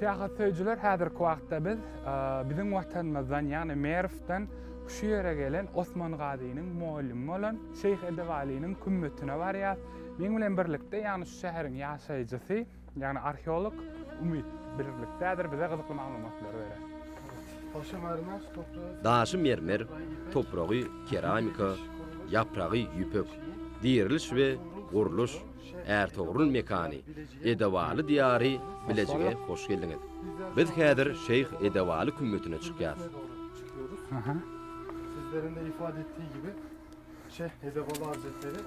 Syýahat söýüjiler häzirki wagtda biz biziň watanymyzdan ýagny Merwden şu ýere gelen Osman Gazynyň mugallymy bolan Şeýh Edip Alynyň kümmetine barýas. Meň bilen birlikde ýagny şu şäheriň ýaşaýjysy ýagny arheolog Umyt birlikdädir bize gyzykly maglumatlary berer. Daşy mermer, topragy keramika, ýapragy ýüpek, diriliş we gurluş, Ärtogrul mekany, Edebaly diýary Bilejige hoş geldiňiz. Biz häzir Şeýh Edebaly kümmetine çykýas. Sizleriň de ifade etdiği gibi Şeyh Edebaly Hazretleri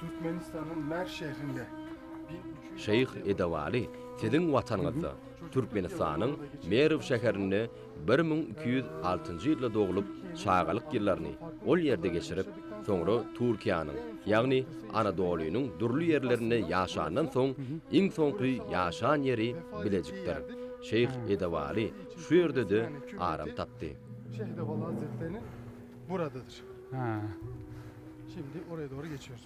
Türkmenistan'yň Merv şehrinde Şeýh Edebaly siziň watanyňyzda Türkmenistanyň Merw şäherinde bir müň iki ýüz altynjy ýylda doglup, çagalyk ýyllaryny ol ýerde geçirip, soňra Türkiýäniň, ýagny Anadolynyň dürli ýerlerinde ýaşandan soň, iň soňky ýaşan ýeri Bilejikdir. Şeýh Edewaly şu ýerde-de aram tapdy. Şeýh Edewaly Hazretleriniň buradadyr. Şindi oraya dogry geçýäris.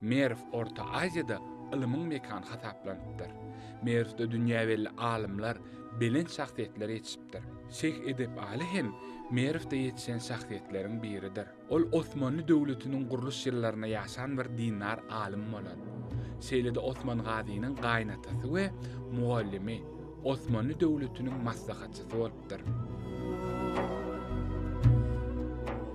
Merw Orta Aziýada ylymyň mekany hasaplanypdyr. Merwde dünýä belli alymlar, belent şahsyýetler ýetişipdir. Şeýh Edep Aly hem Merwde ýetişen şahsyýetleriň biridir. Ol Osmanly döwletiniň gurluş ýyllarynda ýaşan bir dindar alym bolar. Şeýle-de Osman Gazynyň gaýynatasy we mugallymy, Osmanly döwletiniň maslahatçysy bolup beripdir.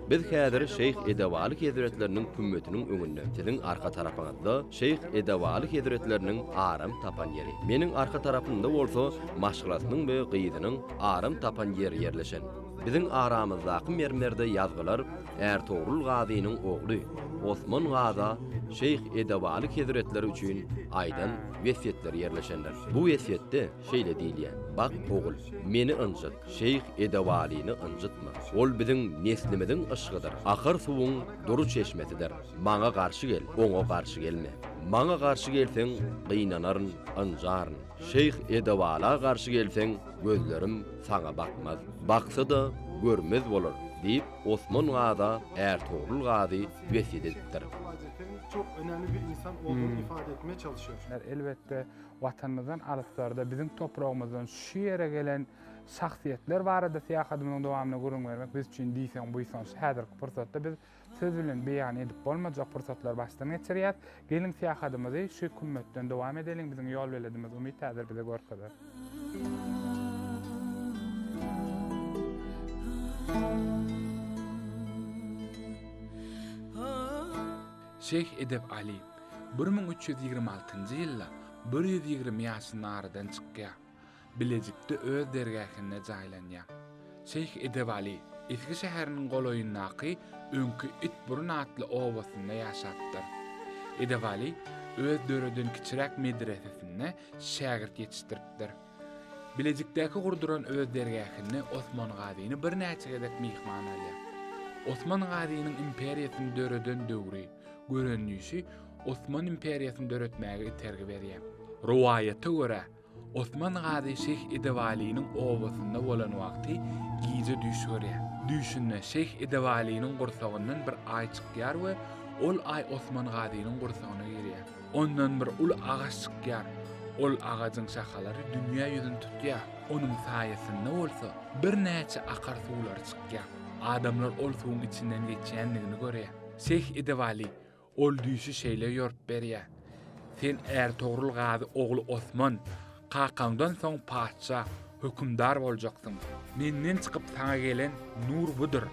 Biz häzir Şeýh Edewaly hezretleriniň kümmetiniň öňünde. Siziň arka tarapyňyzda Şeýh Edewaly hezretleriniň aram tapan ýeri. Meniň arka tarapymda bolsa maşgalasynyň we gyzynyň aram tapan ýeri ýerleşen. Biziň aramyzdaky mermerde ýazgylar Ärtogrul gazynyň ogly Osman gaza Şeýh Edewaly hezretleri üçin aýdan wesýetleri ýerleşendir. Bu wesýetde Şeýle diýilýär, Bak, ogul, Meni ynjyt, şeýh Edewalyny ynjytma. Ol biziň neslimiziň yşgydyr, akyr suwuň dury çeşmesidir. Maňa garşy gel, oňa garşy gelme. Maňa garşy gelseň, gynanaryn, ynjaryn. Şeýh Edewala garşy gelseň, gözlerim saňa bakmaz. Baksa-da, görmez bolar, diýip, Osman Gaza är Togrul Gazy wesýet edipdir. Elbetde, Watanymyzdan alyslarda, biziň topragymyzdan şu ýere gelen şahsyýetler barada syýahadymyzyň dowamynda gürrüň bermek biz üçin diýseň buýsanç. Häzirki pursatda biz söz bilen beýan edip bolmajak pursatlary başdan geçirýäris. Geliň syýahadymyzy şu kümmetden dowam edeliň, biziň ýolbeledimiz Umyt häzir bize görkezer. Şeýh Edep Aly bir müň üç ýüz ýigrimi altynjy ýylda bir ýüz ýigrimi ýaşynda aradan çykýar. Bilejikde öz dergähinde jaýlanýar. Şeýh Edep Aly Esgi şäheriniň golaýyndaky öňki Itburun atly obasynda ýaşapdyr. Edep Aly öz döreden kiçiräk medresesinde şägirt ýetişdiripdir. Bilejikdäki gurduran öz dergähinde Osman Gazyny birnäçe gezek myhman alýar. Osman Gazynyň imperiýasyny döreden döwri, görendişi Osman imperiýasyny döretmäge itergi berýär. Rowaýata görä, Osman Gazy Şeýh Edewalynyň obasynda bolan wagty gije düýş görýär. Düýşünde Şeýh Edewalynyň gursagyndan bir aý çykýar we ol aý Osman Gazynyň gursagyna girýär. Ondan bir uly agaç çykýar. Ol agajyň şahalary dünýä ýüzüni tutýar. Onuň saýasynda bolsa birnäçe akar suwlary çykýar. Adamlar ol suwuň içinden geçýändigini görýär. Şeýh Edewaly ol düýşi şeýle ýorup berýär, Sen Ärtogrul gazy ogly Osman, Kakaňdan soň patyşa, hökümdar boljaksyň. Menden çykyp saňa gelen nur budur.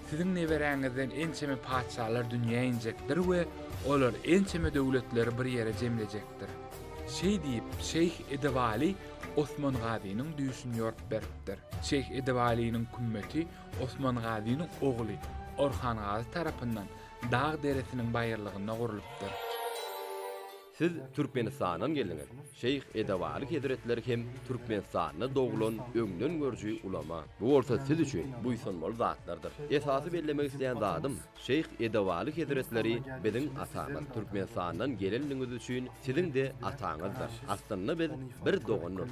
Siziň neberäňizden ençeme patyşalar dünýä injekdir we olar ençeme döwletleri bir ýere jemlejekdir. Şeý diýip, şeýh Edebaly Osman Gazynyň düýşüni ýorup beripdir. Şeýh Edebalynyň kümmeti Osman Gazynyň ogly Orhan Gazy tarapyndan dag deresiniň baýyrlygynda gurlupdyr. Siz Türkmenistandan geldiňiz. Şeýh Edewaly hezretleri hem Türkmenistanda doglan öňden görüji ulama. Bu bolsa siz üçin buýsanmaly zatlardyr. Esasy bellemek isleýän zadym, Şeýh Edewaly hezretleri biziň atamyz. Türkmenistandan gelenligiňiz üçin siziň-de ataňyzdyr. Aslynda biz bir dogandyrys.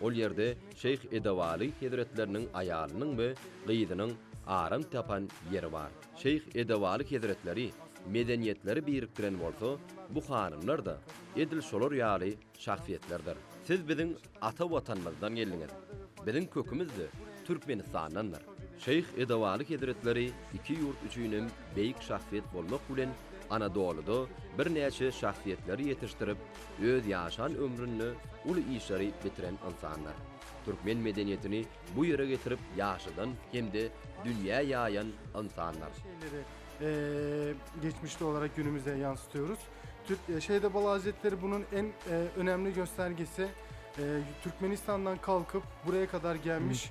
Ol ýerde şeýh Edewaly hezretleriniň aýalynyň we gyzynyň aram tapan ýeri bar. Şeýh Edewaly hezretleri medeniýetleri birikdiren bolsa, bu hanymlar-da edil şolar ýaly şahsyýetlerdir. Siz biziň ata Watanymyzdan geldiňiz. Biziň kökümiz-de Türkmenistandandyr. Şeýh Edowaly hezretleri iki ýurt üçin hem beýik şahsyýet bolmak bilen, Anadolyda birnäçe şahsyýetleri ýetişdirip, öz ýaşan ömründe uly işleri bitiren ynsandyr. Türkmen medeniýetini bu ýere getirip ýaşadan hem-de dünýä ýaýan ynsandyr. Şeýle-de geçmişde olarak günümüze ýansydýarys. Şeýh Edowaly hezretleri bunun en önemli göstergesi Türkmenistandan kalkyp buraya kadar gelmiş